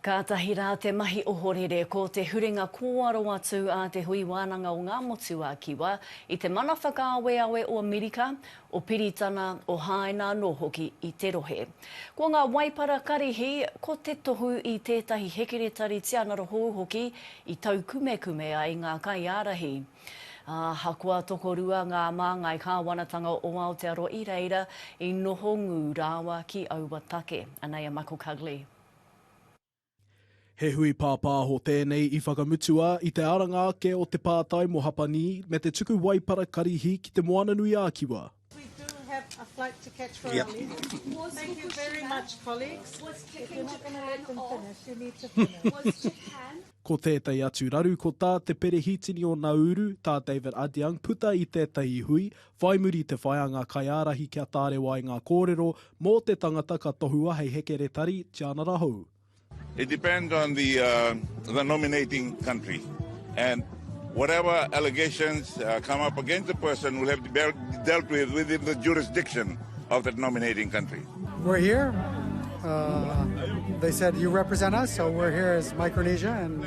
Kātahi rā te mahi ohorere ko te huringa kōaro atu a te Hui Wānanga o Ngā Motu a Kiwa i te mana whakaaweawe o Mirika, o Piritana, o Hāina anō hoki i te rohe. Ko ngā waipara karihi, ko te tohu i tētahi hekeretari tianara hou hoki i taukumekume ai ngā kaiārahi. Ahakoa tokorua ngā māngai kāwanatanga o Aotearoa i reira, i noho ngū rāwa ki aua take. Anei a Michael Cugley. He hui pāpāho tēnei i whakamutua i te aranga ake o te pātai mō Hapanī me te tuku waipara karihi ki Te Moananui-a-Kiwa. We do have a flight to catch for our leave. Thank you very much colleagues. If you're not gonna let them finish, you need to finish. Ko tētahi atu raru ko tā Te Perehitini o Nauru, tā David Adeang puta i tētahi hui, Whai muri te whai a ngā kaiārahi kia tārewa ai ngā kōrero mō te tangata ka tohua hei hekeretari, tianara hou. It depends on the the nominating country and whatever allegations come up against the person will have to be dealt with within the jurisdiction of that nominating country. We're here, they said you represent us, so we're here as Micronesia and.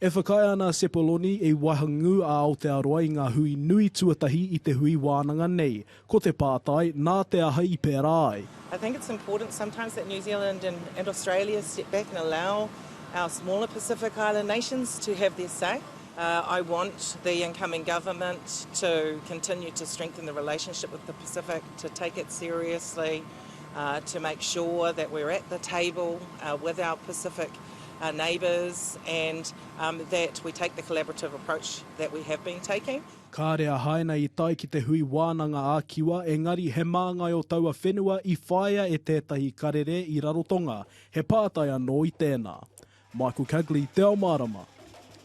E whakaae ana a Sepoloni i wahangū a Aotearoa i ngā hui nui tuatahi i te hui wānanga nei, ko te pātai, nā te aha i pērā ai? I think it's important sometimes that New Zealand and and Australia step back and allow our smaller Pacific island nations to have their say. I want the incoming government to continue to strengthen the relationship with the Pacific, to take it seriously, to make sure that we're at the table with our Pacific our neighbours and that we take the collaborative approach that we have been taking. Kāre a Haina i tae ki te hui wānanga ā-kiwa, engari he māngai o taua whenua i whāia e tētahi karere i Rarotonga he pātai anō i tēnā. Michael Cagley, Te Ao Mārama.